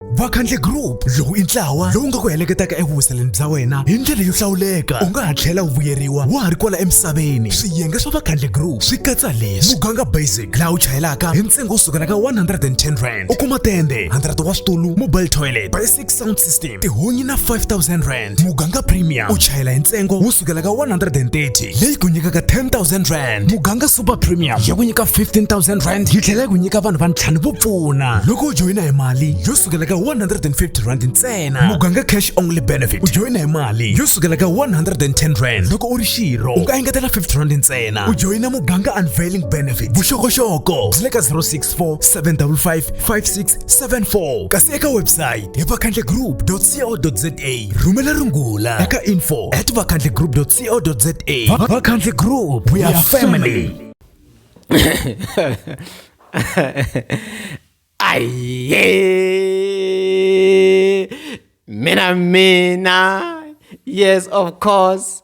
vakhandle group lowu i ntlawa lowu nga ku heleketaka evuhuseleni bya wena hi ndlela yo hlawuleka u nga ha tlhela u vuyeriwa wa ha ri kwala emisaveni swiyenge swa vakhandle group swi katsa leswi muganga basic laha u chayelaka hi ntsengo wo sukela ka 110 rand u kuma tende 100 wa switulu mobile toilet basic sound system tihunyi na 5000 rand rand muganga premium u chayela hi ntsengo wo sukela ka 130 leyi ku nyikaka 10000 rand muganga super premium ya ku nyika 15000 rand yi tlhela yi ku nyika vanhu vantlhanu vo pfuna loko u joyina hi mali yo sukela ka 150 rand ntsena muganga cash only benefit u joyina hi mali yo sukela ka 110 rand loko u ri xirho u nga engetela 50 rand ntsena u joyina muganga unveiling benefit vuxokoxoko byi le ka 064 755 5674 kasi eka website hi vakhandle group co.za rhumela rungula eka info at vakhandle group co za vakhandle group we are family aye mina mina yes of course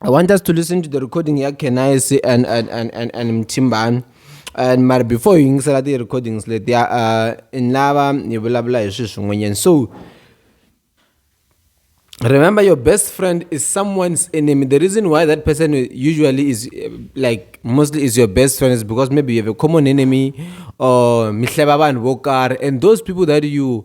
I want us to listen to the recording ya Kenaisi and and and and, and Mtimbani. And mara before hi yingisela ti recordings letiya uh, ni lava hi vulavula hi swilo swin'wanyana so remember your best friend is someone's enemy the reason why that person usually is uh, like mostly is your best friend is because maybe you have a common enemy or mihleba vanhu vo karhi and those people that you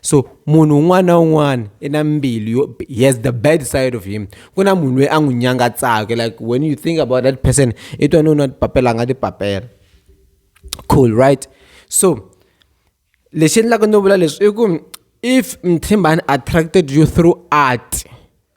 so munhu un'wana na un'wana i na mbilu yo he has the bad side of him ku na munhu loyi a n'wi nyangatsaka like when you think about that person i twa no na papela a nga tipapela cool right so lexi endlaka no vula leswi i ku if mthimbani attracted you through art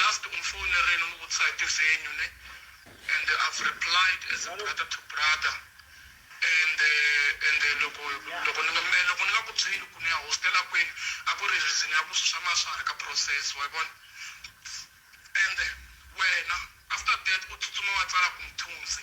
Last u mfonerile u ni vutisa hi ti venue ne and I've replied as a brother to brother and and loko loko ni nga me loko ni nga ku byeli ku ni ya hostela kwini a ku ri reason ya ku swi swa ma swa ha ri ka process wa yi vona and wena after that u tsutsuma wa tsala ku Mthunzi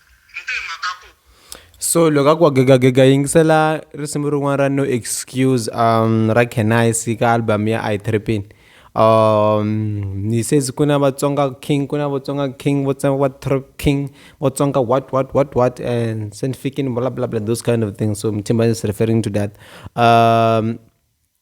so loko a ku wa gegagega yingisela risimu rin'wana ra no excuse um ra kenise ka album ya i tripping um ni says ku na vatsonga king ku na vatsonga king vatsonga va trip king vatsonga what what what what and scientific blah blah blah those kind of things so mthimba is referring to that um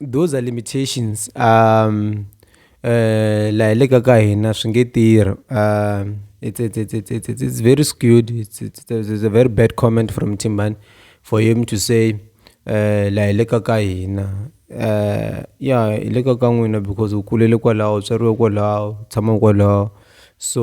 those are limitations um uh laha le ka ka hina swi nge tirhi um it's, it's, it's, it's, it's, it's very skewed it's, it's, it's a very bad comment from timban for him to say uh laha le ka ka hina uh ya hi le ka ka n'wina because u kulele kwalaho u tswariwe kwalaho tshama kwalaho so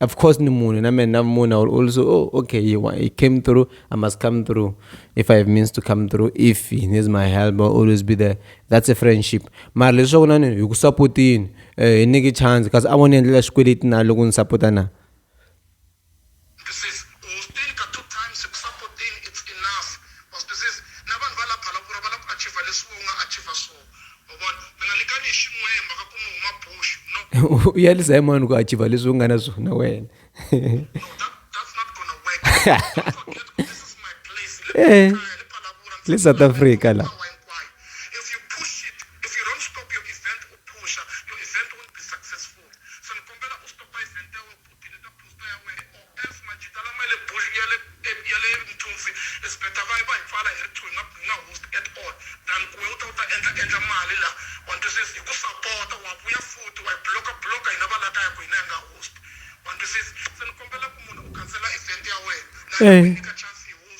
of course ni munhu na mina munhu i will also oh okay he, he came through i must come through if i have means to come through if he needs my help i'll always be there that's a friendship mara leswaku na ni hi ku sapotini um eh, hi nyiki chance kasi a vo ni endlela xikweleti na loko ni sapota na u yalisa hi mani ku achiva leswi u nga na swona wena e le south africa la Theleta posta ya wena OF majita lama yale bush yale yale Mthosi is better va va hi pfala hi ri two hi nga hi nga host at all than ku we u ta u ta endla endla mali la wa ni twisisa hi ku sapota wa vuya futhi wa hi bloka bloka hina va la kaya ku hina hi nga host wa ni twisisa se ni kombela ku munhu u khansela event ya wena na hina u hi nyika chance hi host.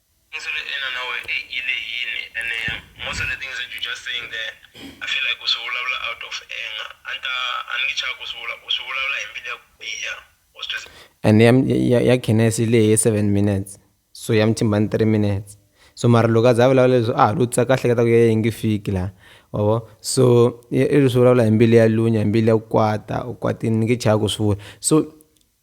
Ndzo ri ina na we e i le yini ene most of the things that you just saying there i feel like u swi vulavula out of anger a ni ta a ni ngi chavi ku swi vula u swi vulavula hi mbilu ya ku biha wa swi twisisa. And ya ya ya Khenas yi lehe seven minutes so ya Mthimbani three minutes so mara loko a za a vulavula leswi a ha lo tsaka a hleketa ku ya yi nge fiki la wa vo so i swi vulavula hi mbilu ya lunya hi mbilu ya ku kwata u kwatini ni nge chavi ku swi vula so.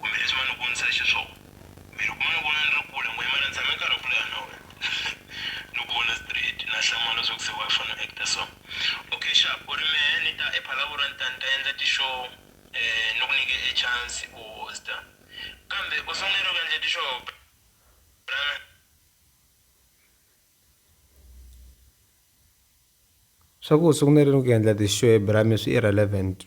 Kumbe leswi ma ni vonisaka xiswona. Kumbe loko ma ni vona ni ri kule, n'wina ma ni tshame nkarhi wa ku leha na wena. Ni ku vona straight, na hlamala swa ku se wa fanele u act-a so. Okay sharp, u ri mehe ni ta ePhalaborwa ni ta ni ta endla ti-show ni ku nyike e chance u host-a. Kambe u sungule ku endla ti-show brother. Swa ku u sungurile ku endla ti-show brame swi irrelevant.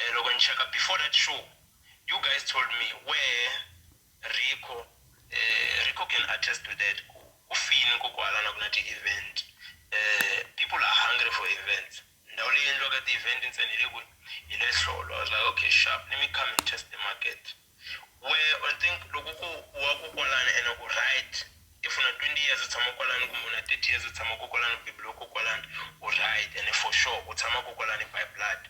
um loko ni cheka before that show you guys told me wehe rico um rico can attest to that ku ku fini ku ku halana ku na ti-event um people are hungry for events ndhawu leyi endliwaka ti-event ntsena hi le kwihi hi le hlolo i was like okay sharp let me come and test the market Wehe u think loko ku u wa ko kwalano ene u right if u na 20 years u tshama kwalano kumbe u na 30 years u tshama ko kwalano u beburiwe ko kwalano u right ene for sure u tshama ko kwalano by blood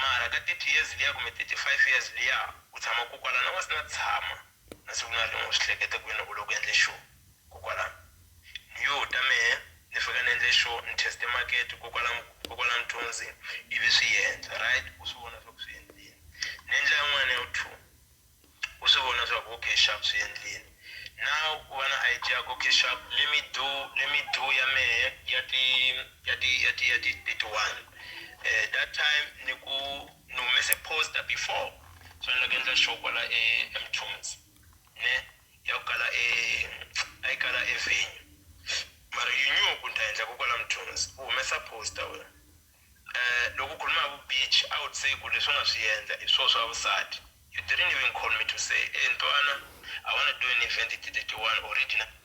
mara ka 30 years liya kumbe 35 years liya u tshama ko kwalano a u nga se na tshama na siku na rin'we u swi hleketa ku wena u le ku endle xona. Ko kwala, ni yo ta mehe, ni fika ni endle sure ni teste market ko kwala, ko kwala Mthunzi, ivi swi yendla. Right, u swi vona swa ku swi yendlini. Ni endla yan'wana ya vu two, u swi vona swa ku okay sharp swi yendlini. Now u va na idea ya ku okay sharp let me do, let me do ya mehe ya ti, ya ti, ya ti, ya ti 31. That time ni ku ni humese poster before, so ni lava ku endla sure kwala eMthunzi. ne ya ku kala e a yi kala e venue mara yi nyuku ni ta endla ku kwala mthunzi u humesa poster wena eh loko khuluma vu beach i would say ku leswi nga swi endla i swo swa vusati you didn't even call me to say e ntwana i want to do an event ti 31 or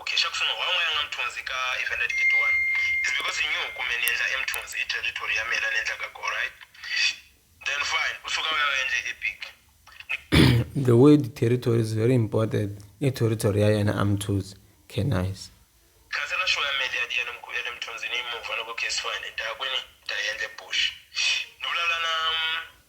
Okay xa ku sungula why n'wana ya nga mthunzi ka event at 31 is because he knew ku me ni endla emthunzi i territory ya mina ni endlaka go right then fine u suka u ya u endle epic the word territory is very important i territory ya yena amthuzi okay nice khansela show ya meli ya diya ni mkulu ya le mthunzini yi move loko case fine ni ta ya kwini ni ta yi endle bush ni vulavula na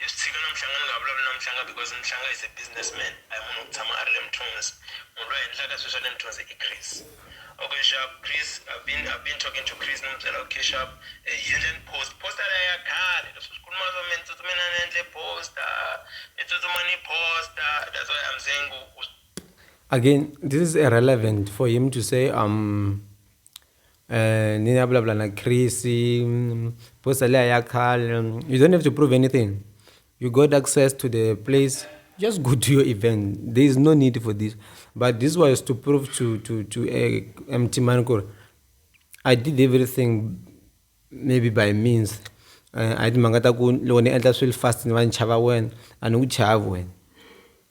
I swi tshika na Mhlanga ni nga vulavuli na Mhlanga because Mhlanga is a business man a hi munhu wo tshama a ri le Mthunzi munhu loyi a endlaka swilo swa le Mthunzi i Chris okay sharp Chris I've been I've been talking to Chris ni n'wi byela okay sharp hi endla ni post poster leyi ya khale leswi swi khuluma swa mina ni tsutsume ni ya ni ya endle poster ni tsutsuma ni poster that's why I'm saying ku again this is irrelevant for him to say um ni ya vulavula na Chris poster liya ya khale you don't have to prove anything you got access to the place just go to your event there is no need for this but this was to prove to to to a eh, empty man ku I did everything maybe by means uh, a hi timhaka ta ku loko ni endla swilo fast ni va ni chava wena a ni ku chavi wena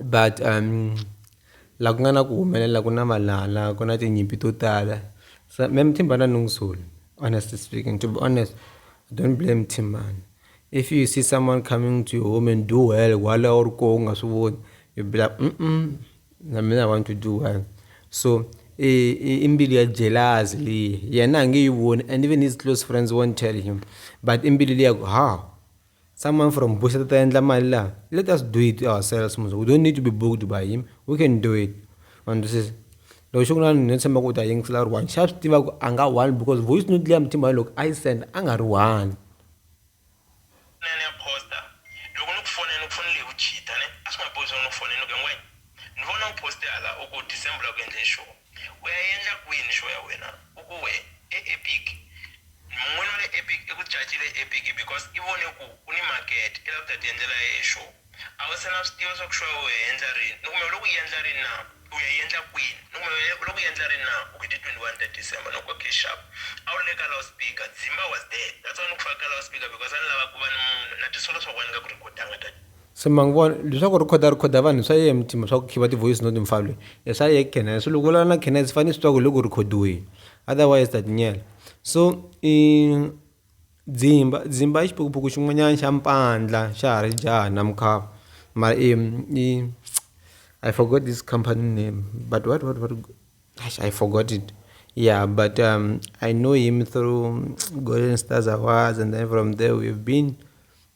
but la ku nga na ku humelela ku na valala ku na tinyimpi to tala so mehe Mthimba a ni n'wi soli honestly speaking to be honest I don't blame Thimbani if you see someone coming to your home and do well while a wu ri koho u nga swi voni you be like na mina I want to do well so i mbilu ya jealous leyi yena a nge yi voni and even his close friends won't tell him but i mbilu liya ku how. Someone from Buseta ta endla mali laha. Let us do it ourselves musa. We don't need to be booked by him. We can do it. Ma ndwisisa? Loko xi ku na no tshemba ku u ta yingisela u ri one. Xa swi tiva ku a nga one because voice note leya Muthimba loko a yi senda a nga ri one. Nene ya posta loko ni ku fonela ni ku fonele hi ku cheater ne a swi nga bohi swa ku ni ku fonela ni ku hi ngwenya ni vona u poste hala u ku December u la ku endleni xona. U ya yendla kwini xo ya wena? U ku we, E Epic. Mun'wini wa le Epic i ku cacile e Epic because i vone ku u ni makete, i lava ku ta tiendlela ya yehe xo. A u se na swi tiva swa ku xo ya u ya yendla rini, ni kumbe u le ku yendla rini na? U ya yendla kwini? Ni kumbe u le ku yendla rini na? U ku hi ti 21 ta December. Ni ku okay sharp. A u ri le ka loudspeaker. Dzimba was there. That's why ni ku fake ka loudspeaker because a ni lava ku va ni munhu, na ti solo swa ku a ni nga ku rhikhodanga tanihi. Se ma n'wi vona leswaku ri khoda ri khoda vanhu swa yena mutima swa ku khiva ti voice note mfana lweyi e swa yena Khenazi se loko u vulavula na Khenazi fane swi twa ku hi le ku rhikhodiweni otherwise ta tinyela so i dzimba dzimba i xiphukuphuku xin'wanyana xa mpandla xa ha ri jaha na mukhava mara i i I forgot this company name but what what what exi I forgot it ya but I know him through Golden Stars Awards and then from there we've been.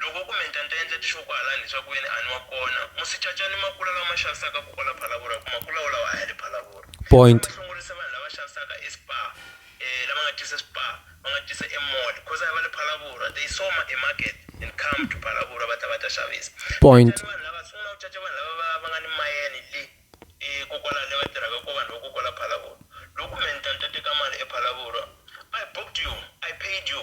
Loko u ku menta ni ta endla tixopo halani leswaku ve ni a ni wa kona. Musicaca ni makula lawa ma xavisaka ku kwala Phalabora hikuva makula wolawo a ya le Phalabora. Point. Loko va hlongorisa vanhu lava xavisaka eSpar, e lava nga tisa eSpar, va nga tisa eMall coz a hi va le Phalabora. They saw ma e market and come to Phalabora va ta va ta xavisa. Point. Cacani vanhu lava, sungula u caca vanhu lava va va nga ni mayeni le e ko kwala le va tirhaka ko vanhu va ko kwala Phalabora. Loko u ku menta ni ta teka mali ePhalabora. I booked you, I paid you,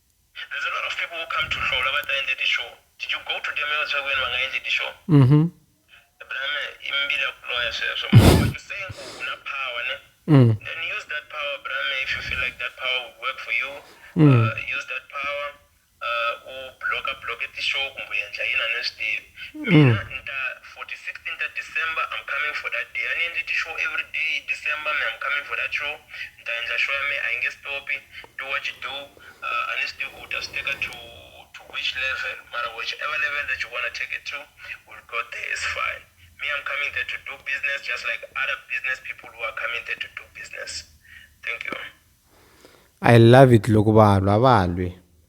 There's a lot of people who come to Hlola va ta endle ti show. Did you go to them yo tswa kwini va nga endli ti show? Mhm. Brame i mbili ya ku loya sweswo. But you saying ku u na power ne? Mm. Then use that power brame if you feel like that power would work for you. Mm. Uh, use that power. Uh, u block block ti show kumbe u endla yini a ni swi tivi. Mina ni ta 46 inter December I'm coming for that day yani ndi ti show every day December me I'm coming for that show nditaendla show ya me a yi nge stop do what you do uh, ani swi ku ta swi teka to to which level mara whichever level that you wanna take it to will go there is fine me I'm coming there to do business just like other business people who are coming there to do business thank you I love it loko vanhu a va lwi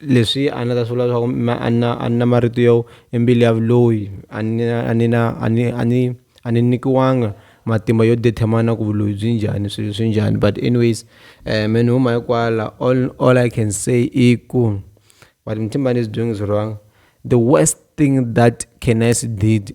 leswi a ni ta swi vula leswaku ma a na a na marito yo i mbilu ya vuloyi a ni na a ni na a ni a ni a ni nyikiwanga matimba yo determine ku vuloyi byi njhani swilo swi njhani but anyways me ni huma hi kwala all all I can say i ku but ni tshemba a ni zi byongo byi wrong the worst thing that Canis did.